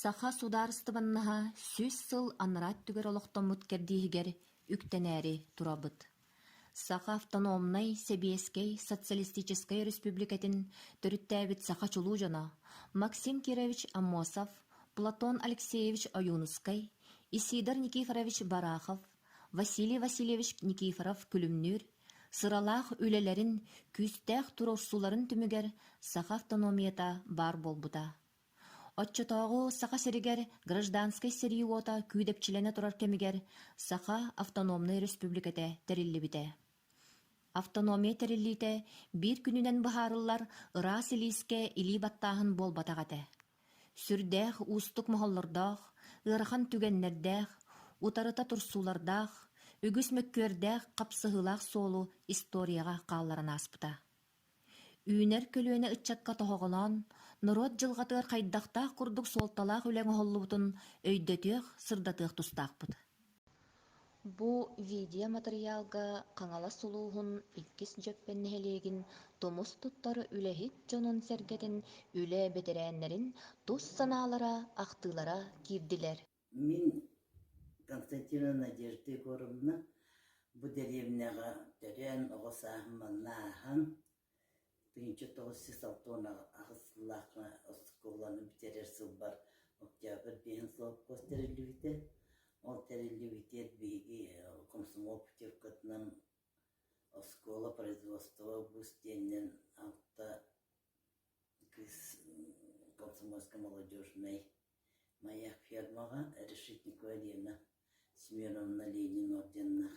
Саха судаарыстыбаннаһа сүүс сыл анараа өттүгэр олохтоммут кэрдииһигэр үктэнээри турабыт. Саха автономнай, сэбиэскэй, социалистическай өрөспүүбүлүкэтин төрүттээбит саха чулуу дьоно Максим Кирович Аммосов, Платон Алексеевич Ойуунускай, Исидар Никифорович Барахов, Василий Васильевич Никифоров-Күлүмнүүр сыралаах үлэлэрин, күүстээх туруорсууларын түмүгэр саха автономията баар буолбута. Оччотооҕу Саха сиригэр гражданскай сэрии уота күүдэпчилэнэ турар кэмигэр Саха Автономнай Өрөспүүбүлүкэтэ тэриллибитэ. Автономия тэриллиитэ биир күнүнэн быһаарыллар ыраас илиискэ илии баттааһын буолбатах этэ. Сүрдээх уустук моһоллордоох, ыарахан түгэннэрдээх, утарыта турсуулардаах, үгүс мөккүөрдээх хапсыһыылаах суолу историяҕа хаалларан ааспыта. Үүнэр көлүөнэ ыччакка тоһоҕолоон, норуот дьылҕатыгар хайдахтаах курдук суолталаах үлэ оҥоһуллубутун өйдөтүөх, сырдатыах тустаахпыт. Бу видеоматырыйаалга Хаҥалас улууһун иккис Дьөппөн нэһилиэгин тумус туттар үлэһит дьонун-сэргэтин, үлэ бэтэрээннэрин тус санаалара, ахтыылара киирдилэр. Мин Константина Надежда Егоровна бу дэриэбинэҕэ төрөөн оҕо сааһым манна ааһан тыһыынча тоҕус сүүс алта уон аҕыс сыллаахха оскуоланы бүтэрэр сылбар октябрь биэһин совхоз тэриллибитэ. Ол тэриллибитигэр биһиги комсомол путевкатынан оскуола производство обуз диэнинэн алта кыыс комсомольскай молодежнай моя фермаҕа решетникова лена семеновна ленин орденнаах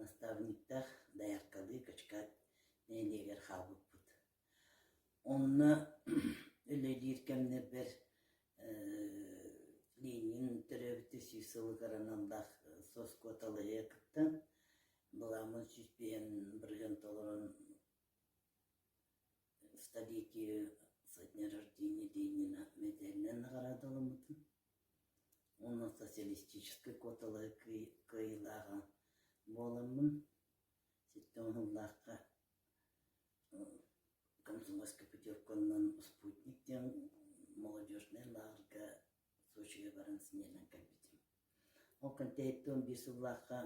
наставниктаах дояркалыы качкаат нэһилиэгэр хаалбыппыт онно үлэлиир кэмнэрбэр ленин төрөөбүтэ сүүс сылыгар аналлаах соскуоталайы кыттан былааммын сүүспээн бырыһыан толорон в столике со дня рождения Ленина медальнай наҕараадаламмытым. Уонна социалистическай куоталаһы кыай- кыайыылааҕа буоламмын, сэттэ уонунлаахха комсомольскай путевканан «Спутник» диэн молодежнай лааҕырга Сочига баран сынньанан кэлбитим. Ол кэнтэһиттэн он биир сыллаахха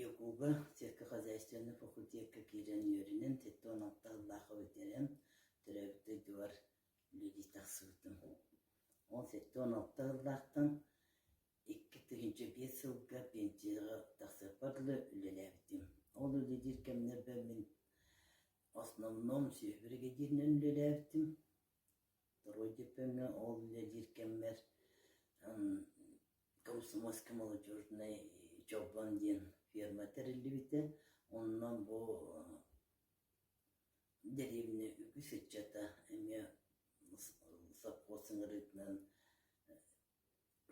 Якуга сельскохозяйственный факультекка киирэн үөрэнэн, сэттэ уон алта сыллаахха бүтэрэн, төрөөбүт дойдубар үлэлии тахсыбытым. Ол сэттэ уон алта сыллаахтан икки тыһыынча биэс сылга пенсияҕа тахсарбар дылы үлэлээбитим. Ол үлэлиир кэмнэрбэр мин основном сүөһү бригадирынан үлэлээбитим. Родиповна ол диир кэммэр комсомольскай молодежнай дьолбон диэн ферма тэриллибитэ. Онно бу дэриэбинэ үгүс ыччата эмиэ сопхуос ыҥырыытынан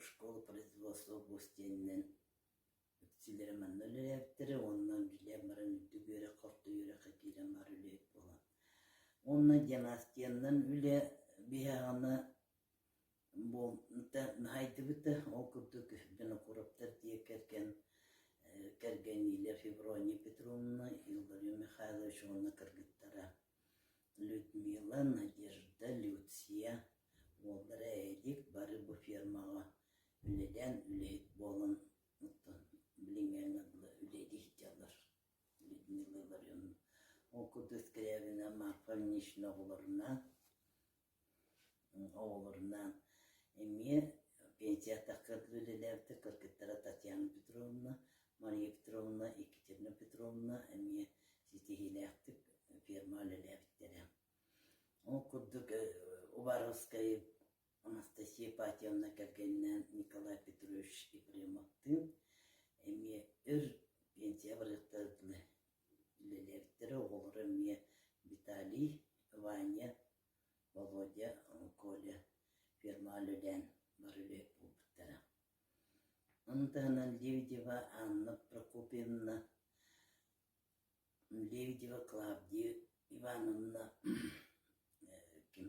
школа производства бус диэнинэн Эпсилэрэ манна үлэлээбиттэрэ уонна билиэн баран үрдүк үөрэх-орто үөрэххэ киирэн барар үлэһит буолан. Уонна династияннан үлэ биһаҕана буолбута наһайдыбыта, ол курдук Винокуровтар дьиэ кэргэн э кэргэниилэр Феврония Петровна, Игорь Михайлович уонна кыргыттара Людмила, Надежда, Люция уоллара Элик бары бу фермаҕа Үлэлээн үлэһит буолан оттон билиҥҥэҥ абыла үлэлии сылдьаллар Людмила Илларионовна ол курдук Скрябина Марфа Ильинична оҕолорунаан оҕолорунаан эмиэ пенсия тахсарга үлэлээбитэ кыргыттара Татьяна Петровна Мария Петровна Екатерина Петровна эмиэ ситиһиилээхтик ферма үлэлээбиттэрэ ол курдук Убаровскай Анастасия Ипатьевна кэргэнинээн Николай Петрович Епремовтыын эмиэ өр пенсияҕа барыахтарына үлэлээбиттэрэ. Оҕолоро эмиэ Виталий, Ваня, Володя, Коля фермаҕа бар үлэ буолбуттара. Ону таһынан Лебедева Анна Прокопьевна, Лебедева Клавдия Ивановна, э, ким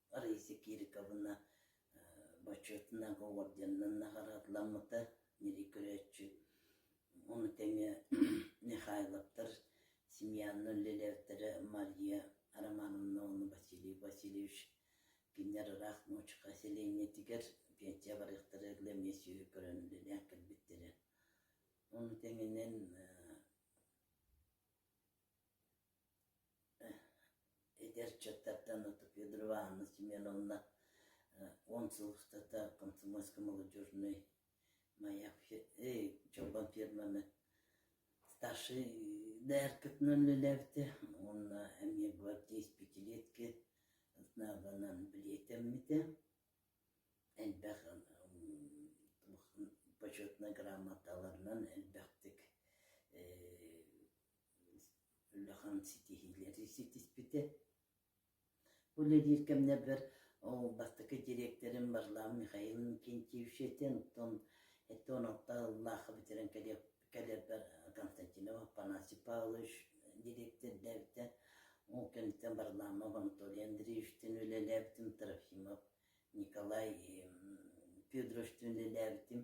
Раиса Кириковна бочуотунан уордьанынан наҕараадаламмыта ньирий көрөөччү ону тэҥэ Михайловтар Семьянна үлэлээбиттэрэ Мария Романовна уонна Василий Васильевич кинилэр ыраах нуучука селениетигэр пенсия барыахтара глэмиэ сүөһү көрөн үлэлээн кэлбиттэрэ ону тэҥинэн Эдэр чуоттартан Федор Ивановна Семеновна уон сыллыктата комсомольскай молодежнай дьоруон фирманы старшай дээркэтинэн үлэлээбитэ уонна эмиэ гвардия исписэлиэскэ снабынан билиэтэммитэ элбэх почетнай грамоталарынан элбэхтик Улахан ситиһиилэри ситиспитэ. Бу үлэлиир кэмнэрбэр ол бастакы дириэктэрим Варламов Михаил Иннокентьевич этэ, онтон эттэ онуоха ыллаахха бүтэрэн кэлиэп кэлэрбэр Константинов Афанасий Павлович дириэктэрдээбитэ. Ол кэнниттэн Варламов Анатолий Андреевичтыын үлэлээбитим, Трофимов Николай Федорович үлэлээбитим,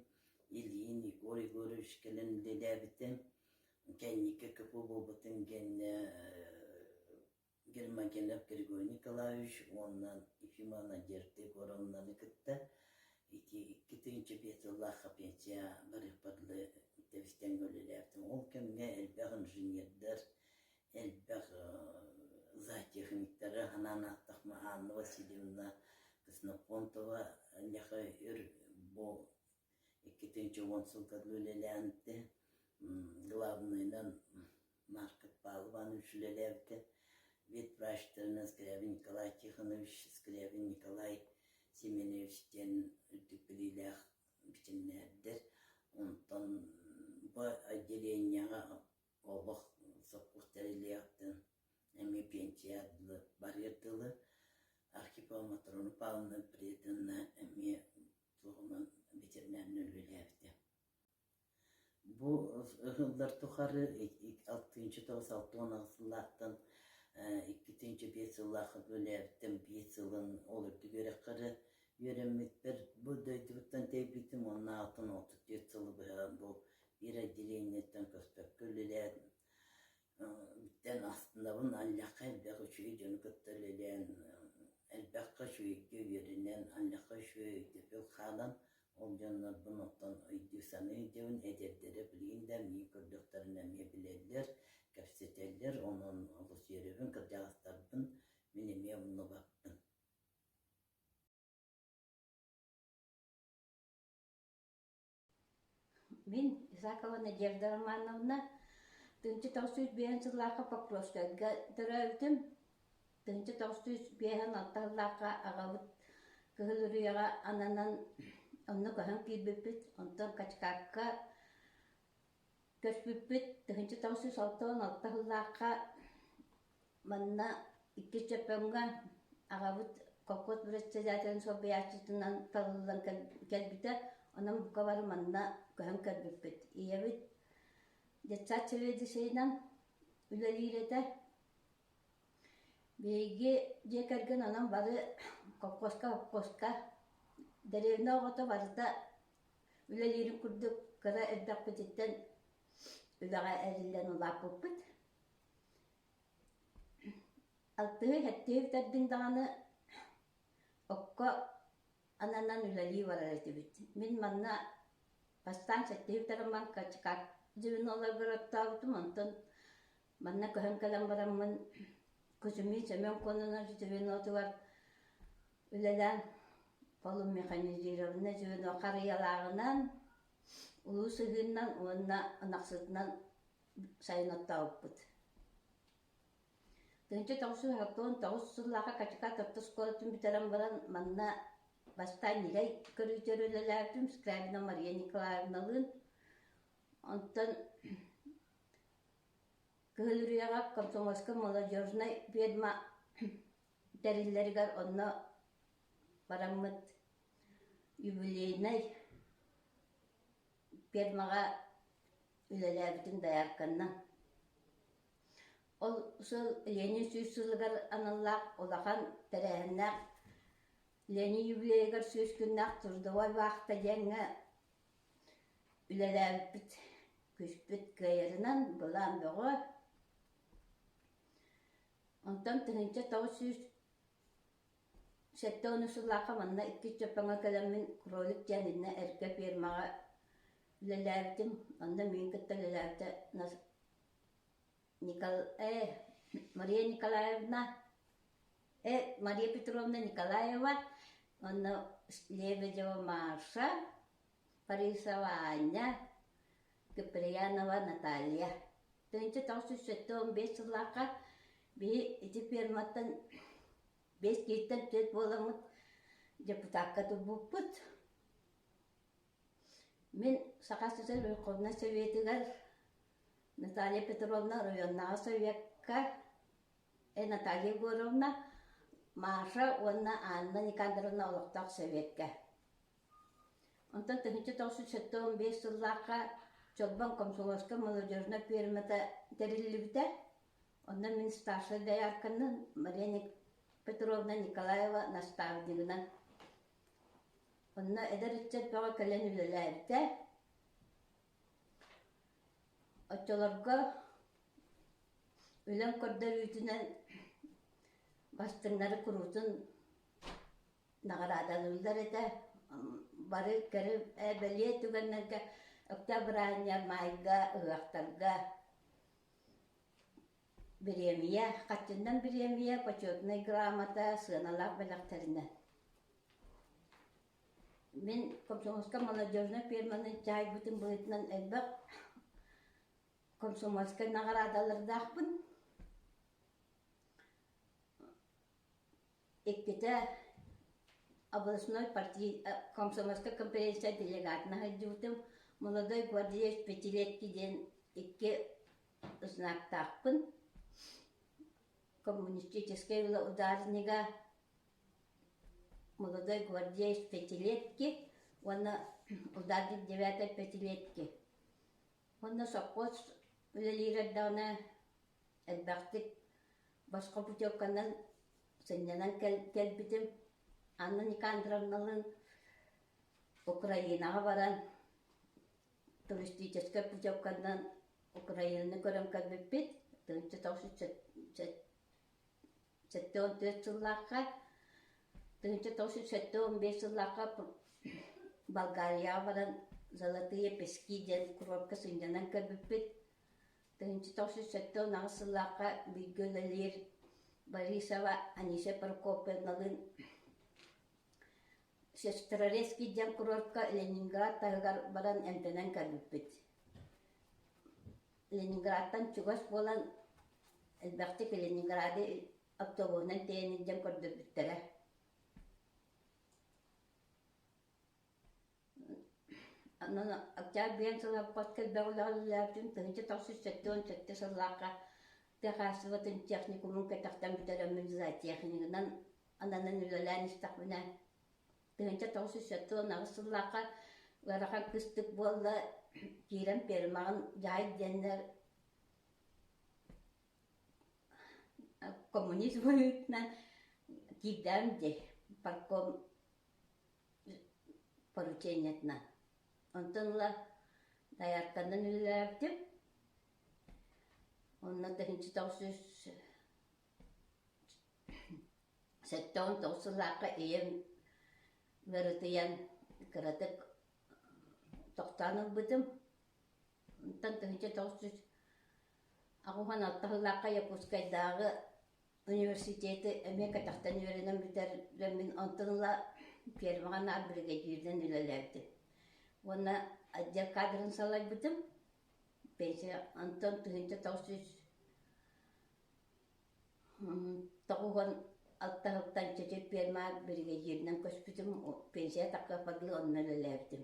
Ильин Егор Егорович кэлэн үлэлээбитим. Кэнники КП буолбутун кэннэ Гермогенов Григорий Николаевич уонна Ефимова Надежда Егоровнаны кытта ити икки тыһыынча биэс сыллаахха пенсия барыахпарлыы тэбистэн үлэлээбитим. Ол кэмҥэ элбэх инженердэр, элбэх зоотехниктары анаан ааттахма Анна Васильевна Ксенофонтова леха ир бу икки тысяча уон сылга үлэлээбитэ главныйынан Маркет Палванович үлэлээбитэ ветврач Тернес Скрябин Николай Тихонович Скрябин Николай Семенович диэн үрдүк билиилээх бичиннэрдэр онтон бу отделениеҕа олох сокуох тэриллиэхтин эмиэ пенсия дылы барыар дылы Архипова Матрону Павловна приятынна эмиэ туһунан ветеринарнай үлэлээбитэ. Бу ыһыллар тухары алтыынча тоҕус алты уон сыллаахтан иккитинчи биэс сыллаахха үлээбиттэн биэс сылын ол үрдүк үөрэххэ үөрэммиппэр бу дойдубуттан тэйбитим уонна алтын отут түөрт сылы быһа бу биир отделениеттан көспөккө үлэлээн бүттэн астынабын аллахха элбэх үчүгэй дьону кытта үлэлээн элбэххэ үчүгэйгэ үөрэнэн аллахха үчүгэй өйдөтөл хаалан ол дьоннорбун оттон өйдүү саныы өйдөбүн эдэрдэрэ билигин да эмиэ көрдөхтөрүнэ эмиэ билэллэр кэпсэтэллэр онон олус үөрөбүн кырдьаҕастарбын мин эмиэ умну баппын Мин Исакова Надежда Романовна тыынча тоҕус сүүс биэһэн сыллаахха Покровскайга төрөөбүтүм. Тыынча тоҕус сүүс биэһэн алта сыллаахха аҕабыт Кыһыл Үрүйэҕэ ананан онно көһөн киирбиппит, онтон Качкакка Көспүппүт тыһыынча тоҕус сүүс алта уон алта сыллаахха манна иккис Чөппөҥҥө аҕабыт колхоз председателин солбуйааччытынан талыллан кэлбитэ, онон бука бары манна көһөн көрбүппүт. Ийэбит детсад заведующайынан үлэлиир этэ. Биһиги дьиэ кэргэн онон бары колхозка, совхозка, деревня оҕото барыта Үлэлиирим курдук кыра эрдэхпититтэн үлэҕэ эриллэн улааппыппыт. Алтыһыы-сэттиһии бүтэрдиҥ даҕаны окко ананан үлэлии барар этибит. Мин манна бастаан сэттиһии бүтэрэн баран Качкак звенола огороттообутум, онтон Манна көһөн кэлэн бараммын Кузьмич Семен Кононов звенотугар үлэлээн полумеханизированнай звено харыйалааҕынан, улуу сыһыынан уонна ынахсытынан сайын оттообуппут. Тыынча тоҕус оттон тоҕус сыллааҕы Качака Топтос куоратын бүтэрэн баран манна бастаан ньирэй көрүүтэр үлэлээбитим Скрябина Мария Николаевналыын. Онтон Кыһыл Үрүйэҕэ комсомольскай молодежнай ведьма тэриллэригэр онно бараммыт юбилейнай ведьмаҕа үлэлээбитим доярканнан. Ол сыл Ленин сүүс сылыгар аналлаах улахан тэрээһиннээх Ленин юбилейыгар сүүс күннээх трудовой вахта диэҥҥэ Үлэлээбиппит, күүспүт кыайарынан былаан бөҕө. Онтон тыһыынча тоҕус сүүс сэттэ уонус сыллаахха манна иккис дьоппоҥҥо кэлэммин кролик диэн иннэ эргэ фермаҕа үлэлээбитим. Онно миин кытта үлэлээбитэ нас Никол...э Мария Николаевна, э Мария Петровна Николаева уонна Лебедева Маша, Парисова Аня, Куприянова Наталья. Төнчө тоҕус сүүс бес сыллаахха биһи ити ферматтан бес киһиттэн төрүт буоламмыт депутакка турбуппут Мин Саха сирин Верховнай Советыгар Наталья Петровна оройуоннааҕы Советка, эн Наталья Егоровна, Маша уонна Анна Никандровна олохтоох Советка. Онтон тыһыынча тоҕус сэттэ уон биэс сыллаахха Чолбон комсомольскай молодежнай пиэрмэтэ тэриллибитэ. Онно мин старшай доярканан Мария Петровна Николаева наставнигынан Онно эдэр ыччат бөҕө кэлэн үлэлээбитэ. Оччолорго үлэм көрдөрүүтүнэн бастыҥнары куруутун наҕараадалыыллар этэ. Бары кэрэ ээ бэлиэ түгэннэргэ октябрь аайга, маайга, ыһыахтарга Бириэмийэ Хатчыннан бириэмийэ Почетнай грамота сыаналаах бэлэхтэринэ Мин комсомольскай молодежнай ферманы дьаайбытым быһыытынан элбэх комсомольскай наҕараадалардаахпын. Иккитэ областной партий комсомольскай конференция делегатын сылдьыбытым. Молодой гвардеец Пятилетки диэн икки знактаахпын. Коммунистическай ударнига молодой гвардеец Пятилетки уонна ударник девятой Пятилетки. Уонна сопхуос үлэлиир эрдэҕинэ Элбэхтик босхо путевканан сынньанан кэлбитим. Анна Никандровналыын Украинаҕа баран туристическай путевканан Украинаны көрөн кэлбиппит тыһыынча тоҕус сэттэ уон түөрт сыллаахха тыһыынча тоҕус жүз сэттэ уон биэс сыллаахха Болгарияҕа баран Золотые пески диэн курортка сынньанан кэлбиппит тыһыынча тоҕус сүүс сэттэ уон аҕыс сыллаахха бииргэ үлэлиир Борисова Анисия Прокопьевналыын Шестерорецкий диэн курортка Ленинград таһыгар баран эмтэнэн кэлбиппит. Ленинградтан чугас буолан элбэхтик Ленинграды оптовоһунан тиэйэн илдьэн көрдөрбүттэрэ. Онон Октябрьян сылаппат кэлбэх үлэҕэллээбитим тыһыынча тахсыш сэттэ уон сэттэ сыллаахха тыа хаачыстыбатын техникумун кэтэхтэн бүтэрэммин зоотехнигынан ананан үлэлээн истэхпинэ тыһыынча тоҕус сэттэ уон аҕыс сыллаахха ыарахан кыстык буолла киирэн пермаҕын дьаайт диэннэр коммунист быһыытынан киирдэҕим дии парком поручениетынан. Онтон ыла дайаарканан үлэлээбитим. Онно тыһынчы тоҕус жүз сэттэ уон тоҕус сыллаахха ийэм ыарытыйан кыратык тохтоон ылбытым. Онтон тыһынча тоҕус жүз аҕуһан алта сыллаахха Якутскайдааҕы университеты эмиэ кэтэхтэн үөрэнэн бүтэрдэммин, онтон ыла фермаҕа наар биригэдьииринэн үлэлээбитим. Уонна отдел кадрын салайбытым. Пенсия онтон тыһыынча тоҕус жүз тоҕуһун алтаһыттан чэчир ферма биригэдьииринэн көспүтүм, пенсия тахсар онно үлэлээбитим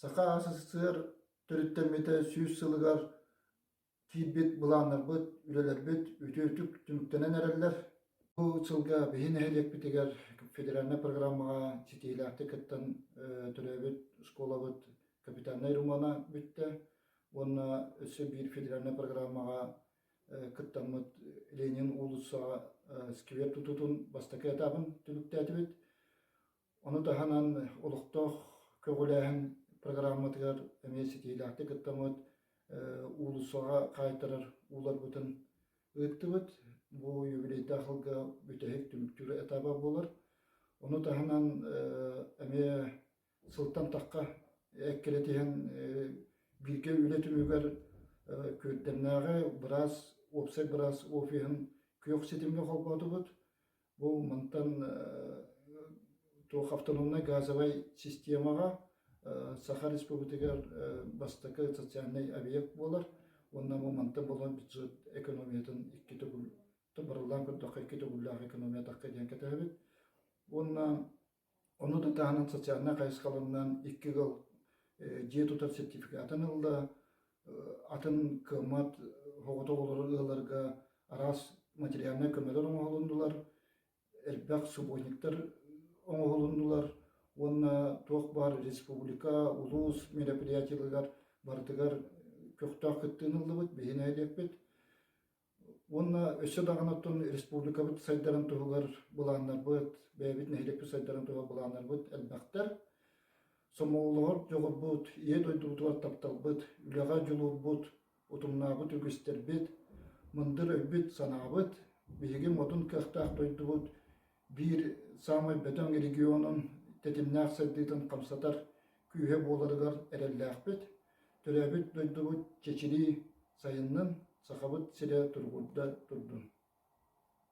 Саха СССР төрүттэммитэ сүүс сылыгар киирбит былааннарбыт, үлэлэрбит үтүөтүк түмүктэнэн эрэллэр. Бу сылга биһи нэһилиэкпитигэр федеральнай программаҕа ситиһиилээхтик кыттан төрөөбүт оскуолабыт капитальнай романа бүттэ уонна өссө биир федеральнай программаҕа кыттаммыт Ленин уулуссаҕа сквер тутуутун бастакы этабын түмүктээтибит. Ону таһынан олохтоох көҕүлээһин программатыгар эмиэ ситиилээхтик кыттаммыт, уулуссаҕа хаайтарар ууларбытын ыыттыбыт. Бу юбилейдаах сылга бүтэһик түмүктүүр этаба буолар. Ону таһынан эмиэ сылтан тахха эккирэтиһэн бииргэ үлэ түмүгэр Күөрдэмнээҕи быраас, уопсай быраас офиһын күөх ситимҥэ холбоотубут. Бу мантан туох автономнай газовай системаҕа Саха Республикатыгар бастакы социальный объект буолар уонна бу мантан болон бюджет экономиятын икки төгүл табарыллаан көрдөххө икки төгүллээх экономия тахха диэн кэтэһэбит уонна Ону да таһынан социальнай хайысхаларынан икки ыал дьиэ тутар сертификатын ылла, атын кымат оҕолору ыалларга араас материальнай көмөлөр оҥоһулуннулар, элбэх субботниктар оҥоһулуннулар уонна туох баар республика, улуус мероприятиеларыгар барытыгар көхтөөх кыттыы ыллыбыт, биһи нэһилиэкпит Уонна өссө даҕаны оттон республикабыт сайдарын туһугар былааннарбыт, бэйэбит нэһилиэкпит сайдарын туһугар былааннарбыт элбэхтэр. Сомоҕолоһор дьоҕурбут, ийэ дойдубутугар тапталбыт, үлэҕэ дьулуурбут, утумнаабыт үгүстэрбит, мындыр өйбүт-санаабыт, биһиги модун кыахтаах дойдубут биир саамай бөтөҥ регионун тэтимнээх сайдыытын хамсатар күүһэ буоларыгар эрэллээхпит. Төрөөбүт дойдубут чэчирии сайыннын, Сахабыт сирэ тургурда турдун!